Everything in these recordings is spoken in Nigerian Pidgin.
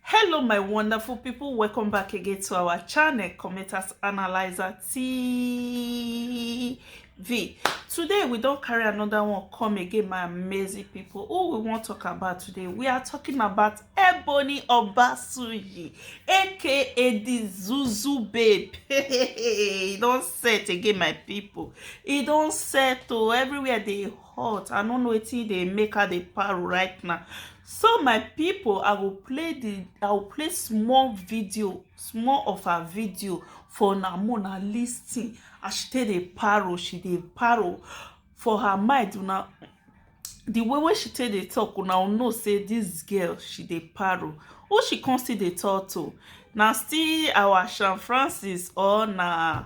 hello my wonderful people welcome back again to our channel commenters analyzer tv today we don't carry another one come again my amazing people who we want to talk about today we are talking about ebony obasuyi aka the zuzu babe He don't set again my people He don't set oh everywhere they court i no know wetin dey make her dey paru right now so my people i go play the i go play small video small of her video for una make una lis ten as she take dey paru she dey paru for her mind una the way wey she take dey talk una go know say this girl she dey paru who she come still dey talk to na still our Sean Francis or na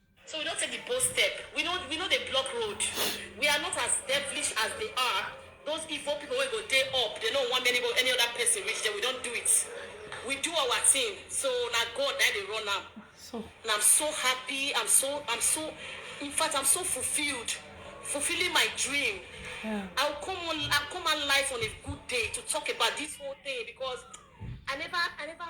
So we don take di bold step, we no we no dey block road, we are not as devilish as dey are those evil people wey go dey up dey no want any any other person reach dem, we don do it, we do our thing so na God na im dey run am So. and I'm so happy, I'm so I'm so infact I'm so fulfilled, fulfilling my dream, Yeah. I will come on I come out live on a good day to talk about this whole thing because I never I never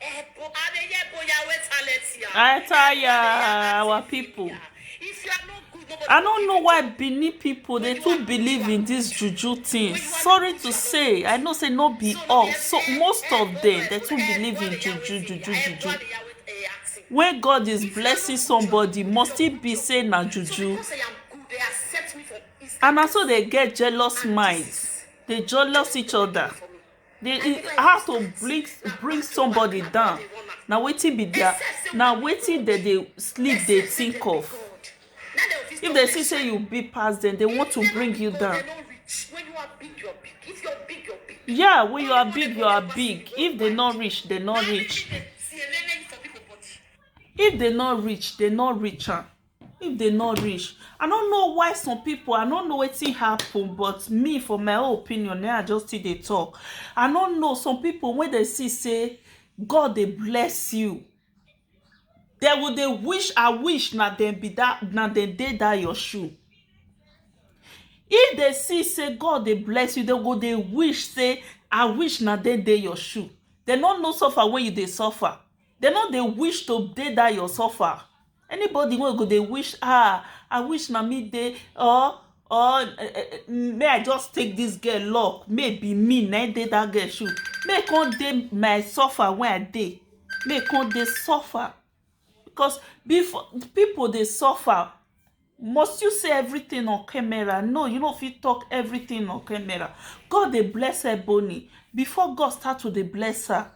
Ebo, Adeye Boya, where talent here? I tell ya, our people. If you are not good, nobody I will don't give know you why job. Benin people they too believe in this juju thing. Sorry to say, I know say no be all. So most of them they too believe in juju, juju, juju. When God is blessing somebody, must it be say na juju? Because I am good, they accept me for Instagram. And also they get jealous minds. They jealous each other. For me. They, it, how to bring bring somebody down na wetin be their na wetin dem dey sleep dey think of if dem see say you big pass dem they want to bring you down yeah when you are big you are big if they no reach they no reach if they no reach they no reach am if they not reach i don't know why some people i don't know wetin happen but me for my own opinion now i just still dey talk i don't know some people when they see say god they bless you they will they wish i wish na dem be that na dem dey that your shoe if they see say god they bless you they go they wish say i wish na dem dey your shoe they no know suffer when you dey suffer Dem no dey wish to dey that your suffer. Anybody wey go dey wish ah I wish na me dey or or make I just take this girl luck make e be me na im dey that girl shoe make e come dey my suffer wey I dey make e come dey suffer because before people dey suffer must you say everything on camera no you no fit talk everything on camera God dey bless Ebony before God start to dey bless her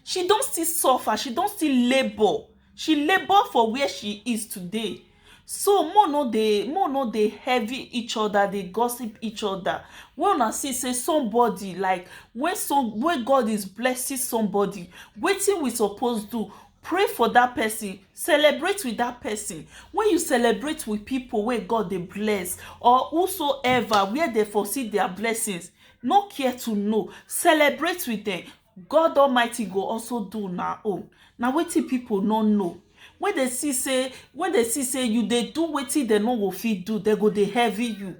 She don still suffer, she don still labour, she labour for where she is today so make we no dey make we no dey heavy each other dey gossip each other wey una see sey somebody like wey some wey God is blessing somebody wetin we suppose do pray for that person celebrate with that person when you celebrate with people wey God dey bless or whosoever where dem for see their blessings no care to know celebrate with dem God Almighty go also do una own na wetin people no know when they see say when they see say you dey do wetin dem no go fit do dem go dey heavy you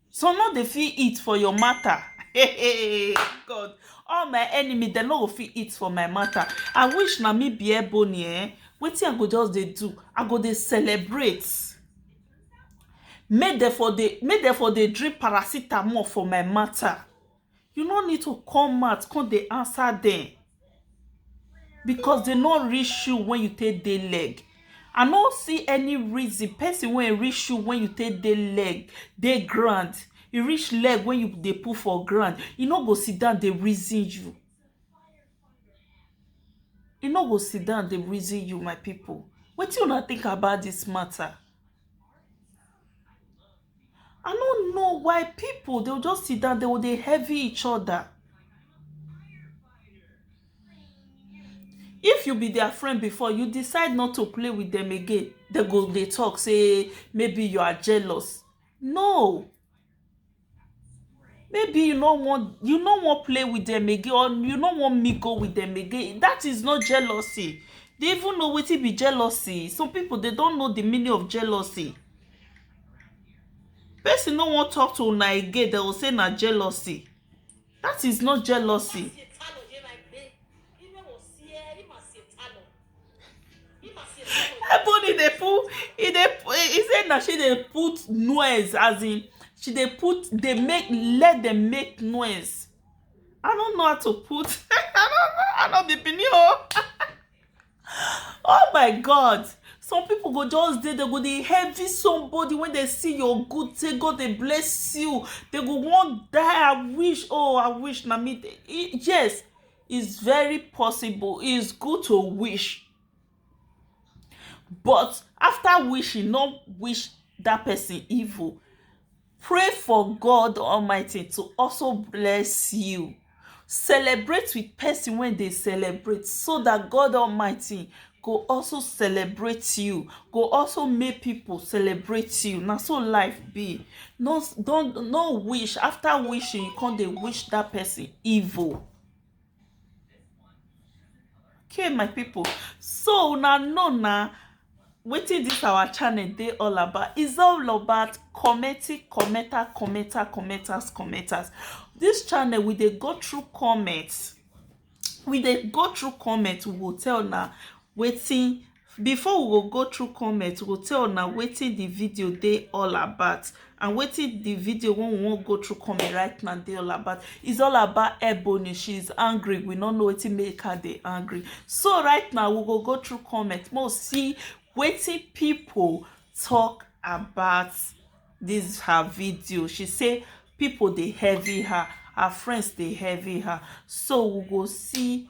some no dey fit eat for your matter hey God all my enemy dem no go fit eat for my matter I wish na me be Ebony eh wetin I go just dey do I go dey celebrate Make dem for dey make dem for dey drink paracetamol for my matter. You no need to come out come dey answer dem because dey no reach you when you take dey leg. I no see any reason person wey e reach you when you take dey leg dey ground, e reach leg wey you dey put for ground, e no go sit down dey reason you. I no go sit down dey reason you my people wetin una think about this matter I no know why people dey just sit down dey go dey heavy each other if you be their friend before you decide not to play with them again dey go dey talk say maybe you are jealous no Maybe you no wan you no wan play with dem again or you no wan mingle with dem again that is not jealousy dey even know wetin be jealousy some people dey don't know the meaning of jealousy person no wan talk to una again dey go say na jealousy That is not jealousy. Ebony dey put e dey e say na she dey put noise as in she dey put dey make let dem make noise. I don't know how to put I don't know I no be Benin o. Oh my God! Some people go just dey, they go dey heavy somebody when they see your good, say God dey bless you. They go want die. I wish, oh, I wish na me. dey- E- Yes, it's very possible. It's good to wish. But after wishing, not wish that person evil. Pray for God Almighty to also bless you. Celebrate with person when they celebrate so that God Almighty go also celebrate you go also make people celebrate you na so life be no don no wish after wishing you come dey wish that person evil okay my people so una know na wetin this our channel dey all about is all about commenting commenter commenter commenters commenters this channel we dey go through comments we dey go through comments we go tell una wetin Before we go go through comment, we go tell una wetin the video dey all about and wetin the video wey we wan go through comment right now dey all about. It's all about Ebony. She is angry. We no know wetin make her dey angry. So right now, we go go through comment. Make we see wetin people talk about this her video. She say people dey heavy her. Her friends dey heavy her. So we go see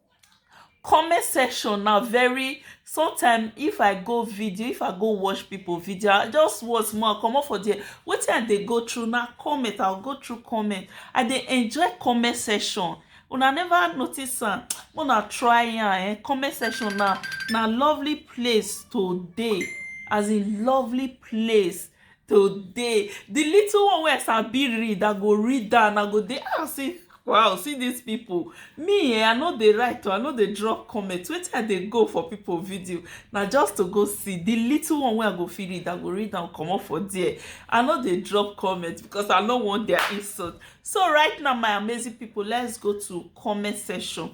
Comment section na very sometime if I go video if I go watch people video I just watch small I comot for there wetin I dey go through na comment I go through comment I dey enjoy comment section una never notice am make una try am um comment section na na lovely place to dey as in lovely place today the little one wey i sabi read i go read am i go dey ah see wow see this people me eh i no dey write o i no dey drop comment wetin i dey go for people video na just to go see the little one wey i go fit read i go read am comot for there i no dey drop comment because i no want their insult so right now my amazing people let's go to comment section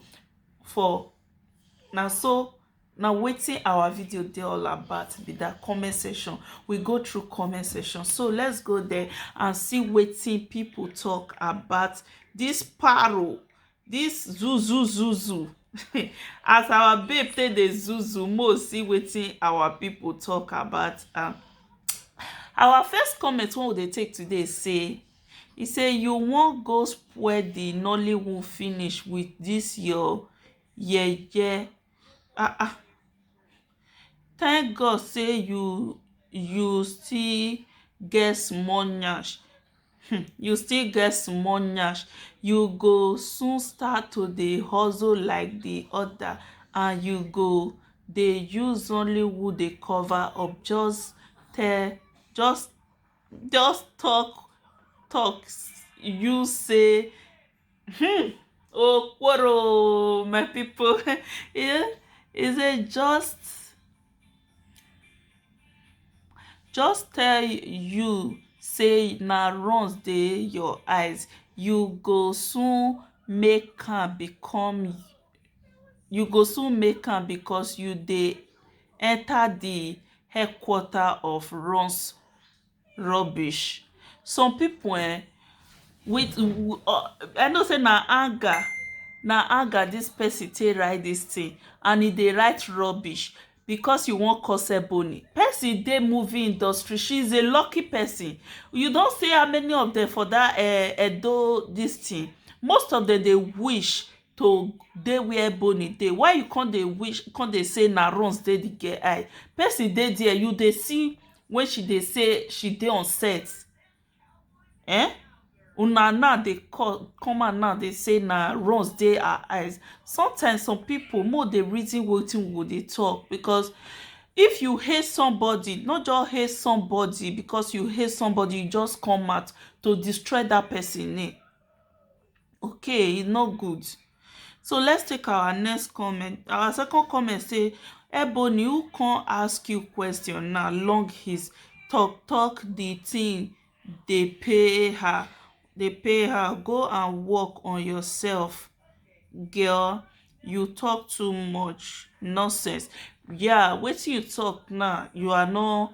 for na so na wetin our video dey all about be that comment section we go through comment section so let's go there and see wetin people talk about this paro this zuzu zuzu as our babe take dey zuzu mo see wetin our people talk about am our first comment wey we dey take today say e say you wan go spoil the nollywood finish with this your yeye ah ah thank God sey you you still get small nyash um you still get small nyash you go soon start to dey hustle like de other and you go dey use nollywood dey cover up just tell just just talk talk use sey Hmm. Okoro, my people. yeah. Is it just just tell you say na runs dey your eyes you go soon make am become you go soon make am because you dey enter the headquarter of runs Rubbish. Some pipu um with um I know sey na anger na anger dis person take write dis thing and e dey write rubbish because you wan cause ebony. Person dey movie industry. She is a lucky person. You don see how many of dem for dat um Edo dis thing. Most of dem dey wish to dey where ebony dey. Why you con dey wish con dey say na runs dey the girl eye. Person dey dere you dey see wey she dey say she dey on set um una now dey come out now dey say na runs dey her eyes sometimes some people make we dey reason wetin we go dey talk because if you hate somebody no just hate somebody because you hate somebody you just come out to destroy that person name okay e no good so let's take our next comment our second comment say Ebony who come ask you question now long his talk talk the thing dey pay her dey pay her go and work on yourself girl you talk too much nonsense yeah wetin you talk now you are not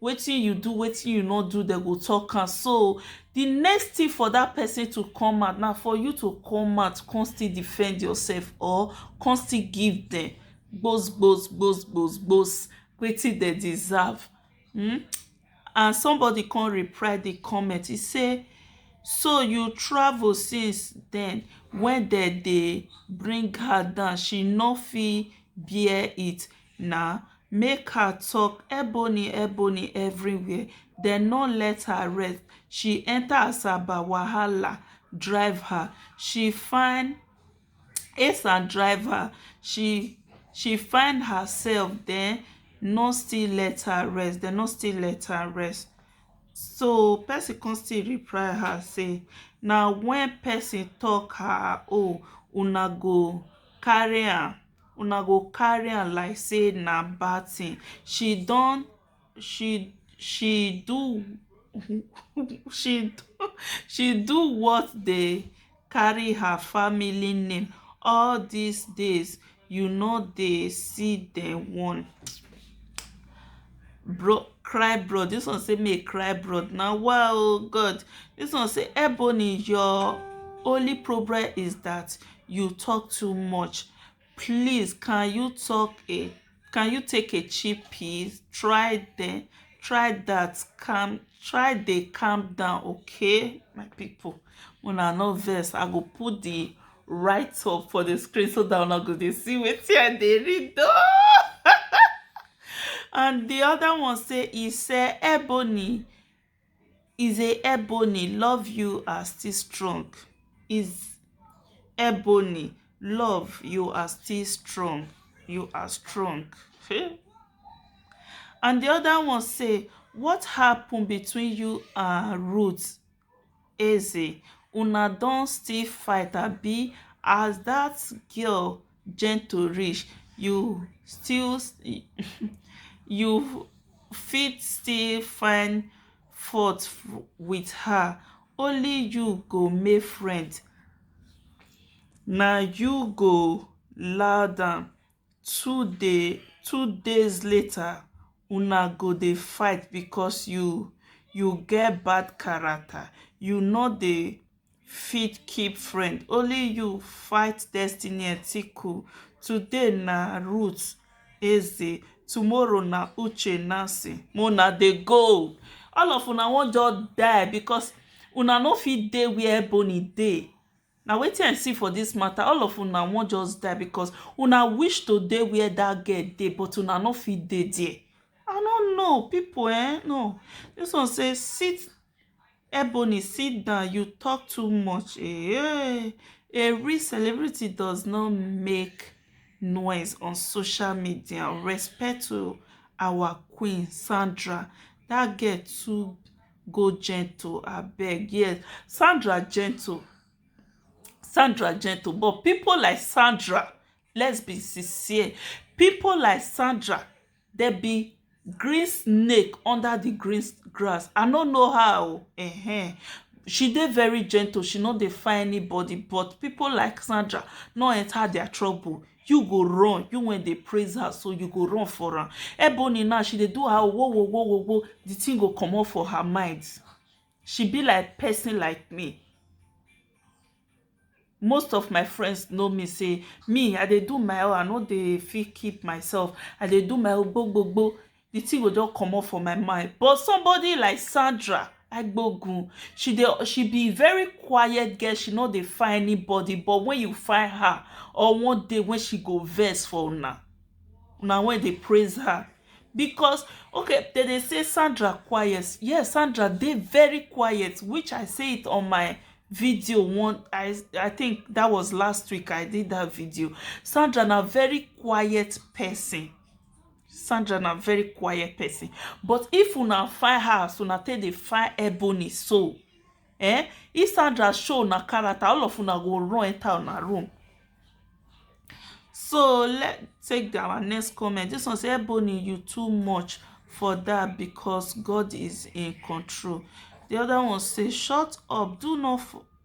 wetin you do wetin you no do dem go talk am so the next thing for that person to come out na for you to come out come still defend yourself or come still give them gbos gbos gbos gbos gbos wetin dem deserve hmm and somebody come reply the comment he say so you travel since then when dem dey bring her down she no fit bear it na make her tok ebony ebony everywhere dem no let her rest she enter asaba wahala drive her she find esan drive her she she find herself dem no still let her rest dem no still let her rest so person come still reply her say na when person talk her own una go carry am una go carry am like say na bad thing she don she she do she do she do what dey carry her family name all this days you no dey see dem one bro cry bro this one say make cry bro now wow oh god this one say ebony your only problem is that you talk too much please can you talk a can you take a cheap piece try then try that calm try dey calm down okay my people una no vex i go put the write up for the screen so that una go dey see wetin i dey read oh and the other one say e say ebony Is a Ebony love you are still strong is Ebony love you are still strong you are strong hmm and the other one say what happen between you and Ruth Eze una don still fight abi as that girl gentle reach you still you fit still find fault with her only you go make friend na you go loud am two dey two days later una go dey fight because you you get bad character you no dey fit keep friend only you fight destiny etiko today na ruth eze tomorrow na uche nancy mo na dey go all of una wan just die because una no fit dey where ebony dey Na wetin I see for this matter, all of una wan just die because una wish to dey where that girl dey but una no fit dey there. I no know people eh no this one say sit Ebony sit down you talk too much eeh a real celebrity does not make noise on social media respect to our queen Sandra that girl too go gentle abeg yes Sandra gentle Sandra gentle but people like Sandra let's be sincere people like Sandra they be green snake under the green grass I no know her o ehen she dey very gentle she no dey find anybody but people like Sandra no enter their trouble you go run you wen dey praise her so you go run for am ebony now she dey do her wo wo wo wo wo the thing go comot for her mind she be like person like me most of my friends know me say me i dey do my own i no dey fit keep myself i dey do my own gbogbogbo the thing go don comot for my mind but somebody like sandra agbogun she dey she be very quiet girl she no dey find anybody but when you find her or one day when she go vex for una una wey dey praise her because okay they dey say sandra quiet yes sandra dey very quiet which i say it on my video one i i think that was last week i did that video sandra na very quiet person sandra na very quiet person but if una fire her as una take dey fire ebony so eh if sandra show una character all of una go run enter una room so let take our next comment this one say ebony you too much for that because god is in control the other one say shut up do not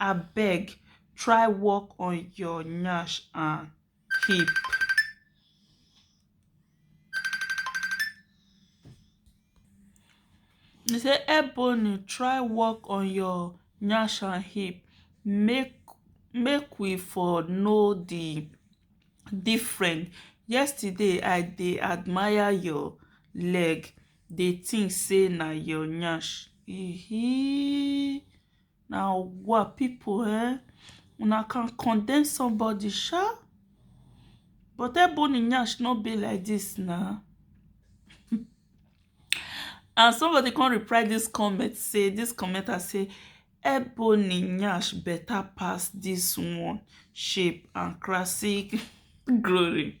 abeg try work on ur nyash and hip e say ebony try work on ur nyash and hip make make we for know the different yesterday i dey admire your leg dey think say na your nyash Na wa pipu eh, una can condemn somebody sha but Ebony nyash no be like this na and somebody come reply this comment say this commenter say Ebony nyash better pass this one shape and classic glory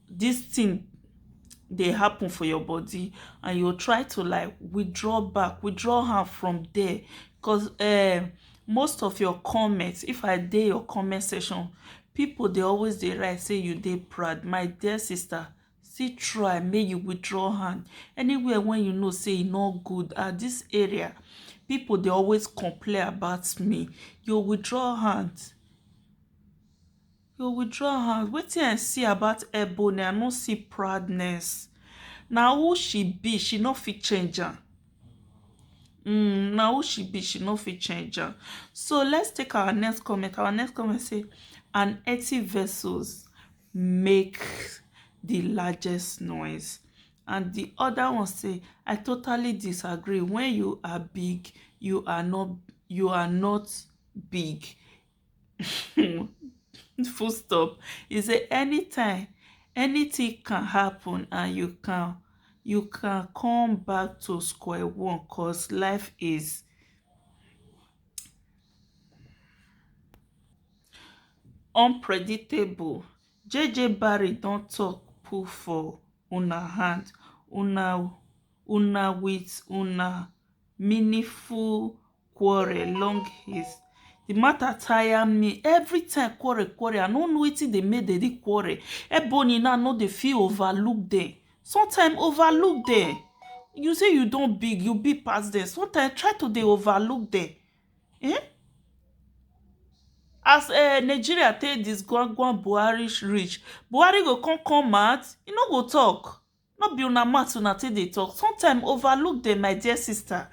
this thing dey happen for your body and you try to like withdraw back withdraw her from there because um eh, most of your comments if i dey your comment section people they always they write say you dey proud my dear sister see try make you withdraw hand anywhere when you know say e no good at this area people they always complain about me you withdraw hand You withdraw hand. Wetin I see about Ebony, I no see proudness. Na who she be, she no fit change am. Mm, na who she be, she no fit change am. So let's take our next comment. Our next comment say, "An empty vessels make the largest noise." And the other one say, "I totally disagree. When you are big, you are not you are not big. um full stop e say anytime anytin can happun and you can you can come back to square one cos life is unpredictable jeje barry don tok put for una hand una una wit una meaningful quarrel long his the matter tire me every time quarrel quarrel i no know wetin dey make dem dey quarrel ebony now no dey feel overlook dem sometimes overlook dem you say you don big you big pass dem sometimes try to dey overlook dem eh? as uh, nigeria take disgwangwan buhari reach buhari go come come out e no go talk No be una mouth una take dey talk, sometime overlook dem my dear sister,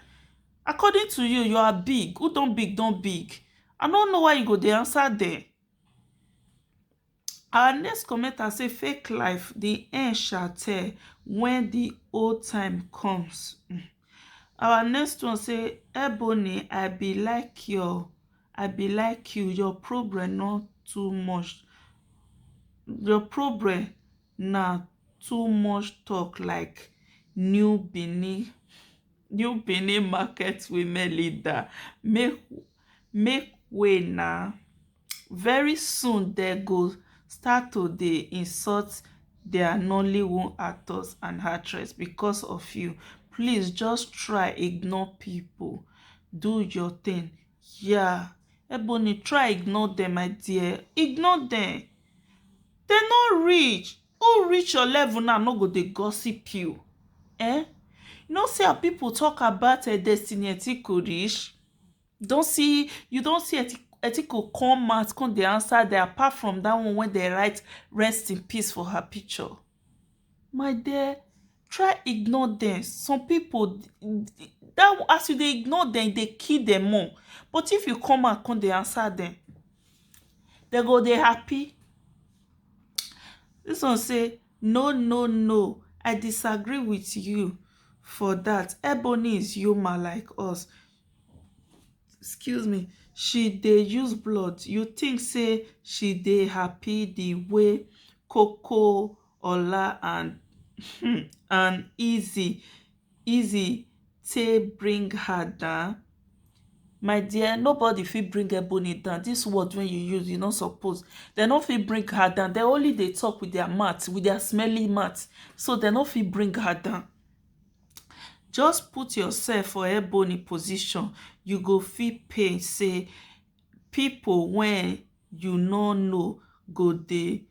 according to you you are big, who don big don big, I no know why you go dey answer dem. Our next commenter say fake life the end shall tell when the whole time comes um our next one say Ebony I be like your I be like you your problem no too much your problem Na too much talk like new Benin new Benin market women leader make make way na very soon dey go start to dey insult their nollywood actors and actress because of you please just try ignore people do your thing yeah Ebony try ignore them my dear ignore them Dem no reach, who reach your level now no go dey gossip you eh You no see how people talk about Destiny Etiko reach? You don see you don see Etiko come out come dey answer dem apart from that one wey dem write rest in peace for her picture my dear try ignore dem some people that as you dey ignore dem e dey kill dem more but if you come out come dey answer dem dem go dey happy this one say no no no i disagree with you for that ebony is human like us excuse me she dey use blood you think say she dey happy the way koko ola and um and eazy eazy take bring her down my dear nobody fit bring ebony down this word wey you use e no suppose dem no fit bring her down dem only dey talk with their mouth with their smelly mouth so dem no fit bring her down Just put yourself for Ebony position, you go feel pain say people when you no know go dey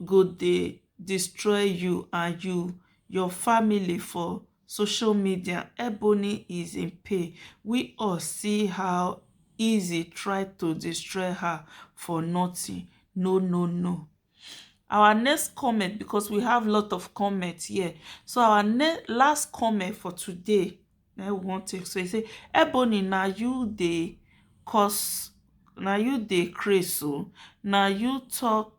go dey destroy you and you your family for social media. Ebony is in pain. We all see how Easy tried to destroy her for nothing. No, no, no. our next comment because we have lot of comment here so our last comment for today na we wan take so e say ebony na you dey cause na you dey craze o na you talk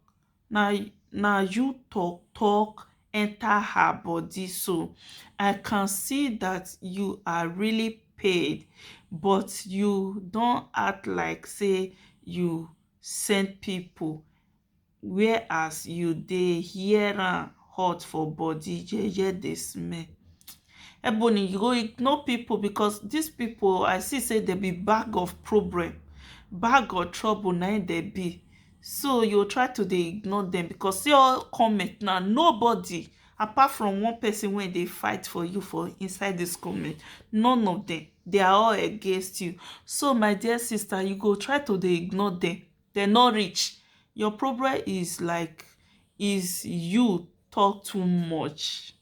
na na you talk talk enter her body so i can see that you are really paid but you don act like say you send people where as you dey hear am hot for body jeje dey smell Ebony you go ignore people because this people I see say dem be bag of problem bag of trouble na im dem be so you go try to dey ignore dem because see all comment now nobody apart from one person wey dey fight for you for inside this comment none of them they are all against you so my dear sister you go try to dey ignore dem dem no reach your problem is like is you talk too much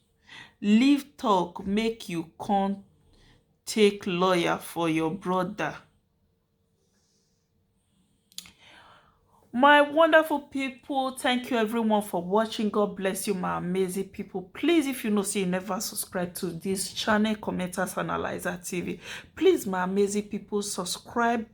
leave talk make you come take lawyer for your brother my wonderful people thank you everyone for watching god bless you my amazing people please if you know see you never subscribe to this channel commenters analyzer tv please my amazing people subscribe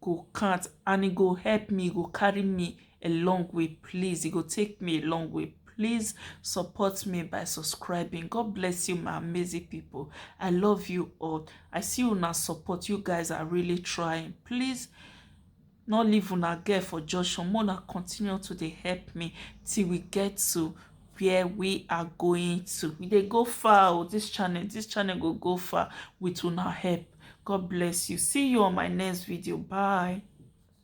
go count and e go help me e go carry me a long way please e go take me a long way please support me by subscribing god bless you my amazing people i love you all i see you now support you guys are really trying please not leave una girl for junction mona continue to dey help me till we get to where we are going to we dey go far o oh, this channel this channel go go far with una help god bless you see you on my next video bye